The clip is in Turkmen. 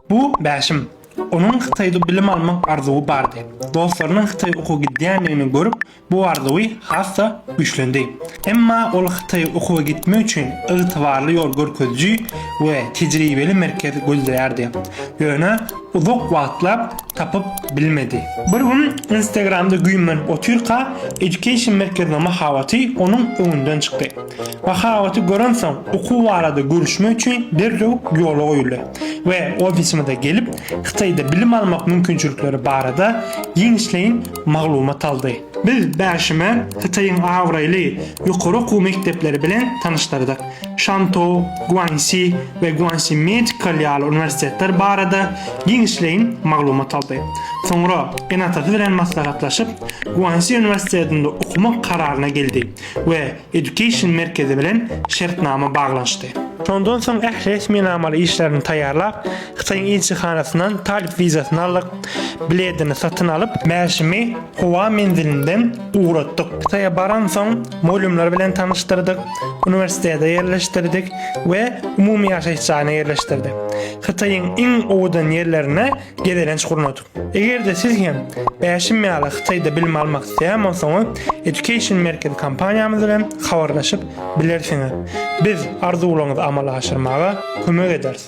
Bu Bäşim. Onuň Hytaýda bilim almak arzuwy bardy. Dostlarynyň Hytaýa okuwa gidýändigini görüp, bu arzuwy has-da güýçlendi. Emma ol Hytaýa okuwa gitmek üçin ygtybarly ýol görkeziji we tejribeli merkez gözleýärdi. Ýöne uzak wagtlap tapyp bilmedi. Bir gün Instagramda güýmenip otyrka, Education merkeziniň mahabaty onuň öňünden çykdy. Mahabaty görensoň, okuw barada görüşmek üçin derrew ýola goýuldy we ofisimize gelip, Hytaýda bilim almak mümkinçilikleri barada giňişleýin maglumat aldy. Biz Bäşimi Hytaýyň abraýly ýokary okuw mekdepleri bilen tanyşdyrdyk, Şantou, Guansi we Guansi Medical ýaly uniwersitetler barada giňişleýin maglumat aldy. Soňra ene-atasy bilen maslahatlaşyp, Guansi uniwersitetinde okamak kararyna geldi. we Education merkezi bilen şertnama baglanyşdy. Şondan soň ähli resminamaly işlerini taýýarlap, Hytaýyň ilçihanasyndan talyp wizasyny aldyk, biledini satyn alyp, mäşimi howa menzilinden ugratdyk, Hytaýa baransoň, mugallymlar bilen tanyşdyrdyk, uniwersitete ýerleşdirdik we umumy ýaşaýyş jaýyna ýerleşdirdik. Hytaýyň iň owadan ýerlerine gezelenç gurnadyk. Eger-de siz hem Bäşim ýaly Hytaýda bilim almak isleýän bolsaňyz, Education Merkezi kompaniýamyz bilen habarlaşyp bilersiňiz. Biz arzuwlaryňyzy amala aşyrmaga kömek ederis.